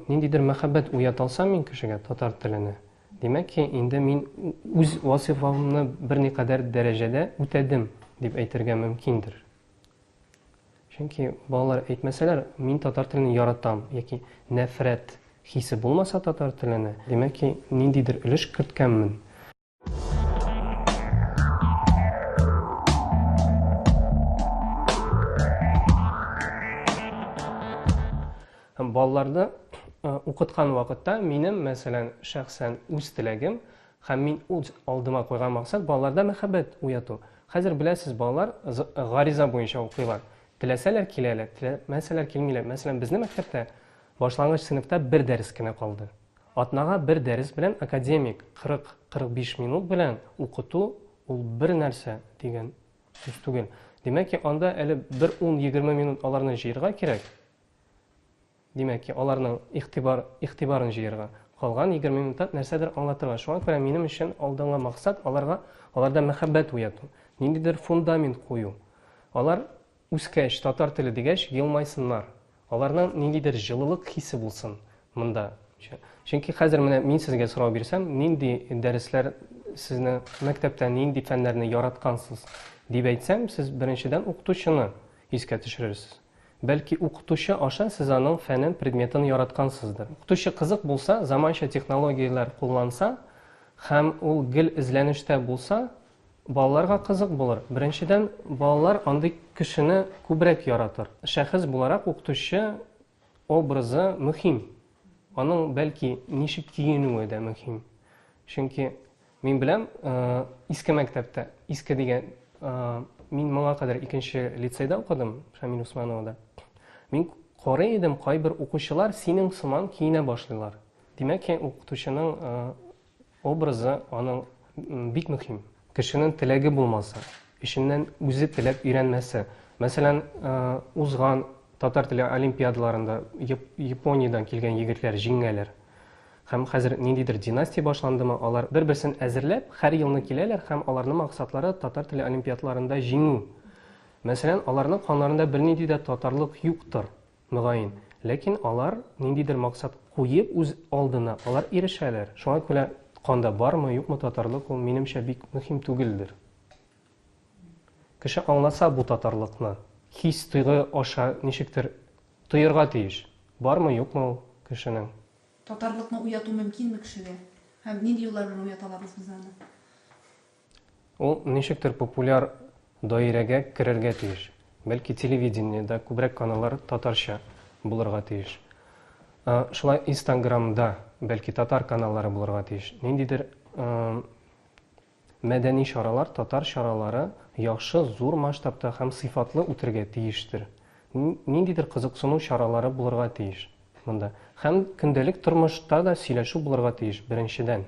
ниндидер мәхәббәт уята алсам мин кешегә татар теленә димәк ки инде мин үз вазифамны берникадәр дәрәҗәдә үтәдем дип әйтергә мөмкиндер чөнки балалар әйтмәсәләр мин татар телен яратам яки нәфрәт хисе булмаса татар теленә димәк ки ниндидер өлеш керткәнмен Һәм балаларда укыткан вакытта минем мәсәлән шәхсән үз теләгем һәм мин үз алдыма куйган максат балаларда мәхәббәт уяту хәзер беләсез балалар гариза буенча укыйлар теләсәләр киләләр теләмәсәләр килмиләр мәсәлән безнең мәктәптә башлангыч сыйныфта бер дәрес кенә калды Атнага бер дәрес белән академик 40-45 минут белән укыту ул бер нәрсә дигән сүз түгел. Димәк ки, анда әле бер 10-20 минут аларны җыерга кирәк. Димәк ки, аларның игътибар, игътибарын җыерга. Калган 20 минутта нәрсәдер аңлатырга. Шуңа күрә минем өчен алдынгы максат аларга, аларда мәхәббәт уяту, ниндидер фундамент кую. Алар Үскәч, татар теле дигәч, елмайсыннар. Аларның ниндидер җылылык хисе булсын монда. Чөнки хәзер менә мин сезгә сорау бирсәм, нинди дәресләр сезне мәктәптә нинди фәннәрне яраткансыз, дип әйтсәм, сез беренчедән укытучыны искә төшерерсез. Бәлки укытучы аша сез аның фәнен, предметын яраткансыздыр. Укытучы кызык булса, заманча технологияләр кулланса һәм ул гел эзләнештә булса, Балаларга кызык булыр. Беренчедән, балалар андый кешене күбрәк яратыр. Шәхес буларак укытучы образы мөһим. Аның, бәлки, ничек киенүе дә мөһим. Чөнки мин беләм, иске мәктәптә, иске дигән, мин моңа кадәр икенче лицейда укыдым, Шамил Усмановада. Мин карый идем, кайбер укучылар синең сыман киенә башлыйлар. Димәк, укытучының Образы аның бик мөһим. Кешенең теләге булмаса, эченнән үзе теләп өйрәнмәсә, мәсәлән, узган татар теле олимпиадаларында Япониядән килгән егетләр җиңәләр. Һәм хәзер ниндидер династия башландымы, алар бер-берсен әзерләп, һәр елны киләләр һәм аларның максатлары татар теле олимпиадларында җиңү. Мәсәлән, аларның канларында бернинди дә татарлык юктыр. Мөгаен. Ләкин алар ниндидер максат куеп үз алдына алар ирешәләр. Шуңа күрә канда бармы, юкмы татарлык ул, минемчә, бик мөһим түгелдер. Кеше аңласа бу татарлыкны, хис-тойгы аша ничектер тоерга тиеш. Бармы, юкмы ул кешенең. Татарлыкны уяту мөмкинме кешегә? Һәм нинди юллар белән уяталар үзебездә аны? Ул ничектер популяр даирәгә керергә тиеш. Бәлки телевидениедә күбрәк каналлар татарча булырга тиеш. Шулай инстаграмда бәлки татар каналлары булырга тиеш. Ниндидер мәдәни чаралар, татар чаралары яхшы, зур масштабта һәм сыйфатлы үтергә тиештер. Ниндидер кызыксыну чаралары булырга тиеш монда. Һәм көндәлек тормышта да сөйләшү булырга тиеш, беренчедән.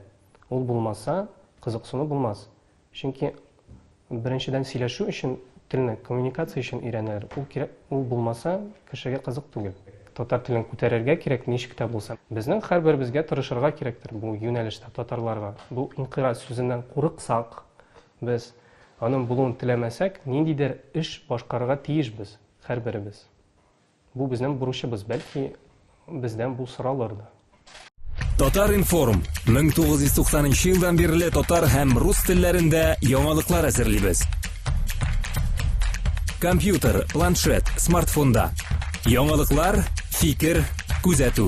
Ул булмаса, кызыксыну булмас. Чөнки беренчедән сөйләшү өчен телне коммуникация өчен өйрәнәләр. Ул кирәк, ул булмаса, кешегә кызык түгел. Татар телен күтәрергә кирәк, ничек тә булса. Безнең һәрберебезгә тырышырга кирәктер бу юнәлештә татарларга. Бу инкыйраз сүзеннән курыксак, без аның булуын теләмәсәк, ниндидер эш башкарырга тиешбез һәрберебез. Бу безнең бурычыбыз, бәлки, бездән бу соралыр да. Татар-информ, 1990 нчы елдан бирле татар һәм рус телләрендә яңалыклар әзерлибез. Компьютер, планшет, смартфонда. Яңалыклар, фикер, күзәтү.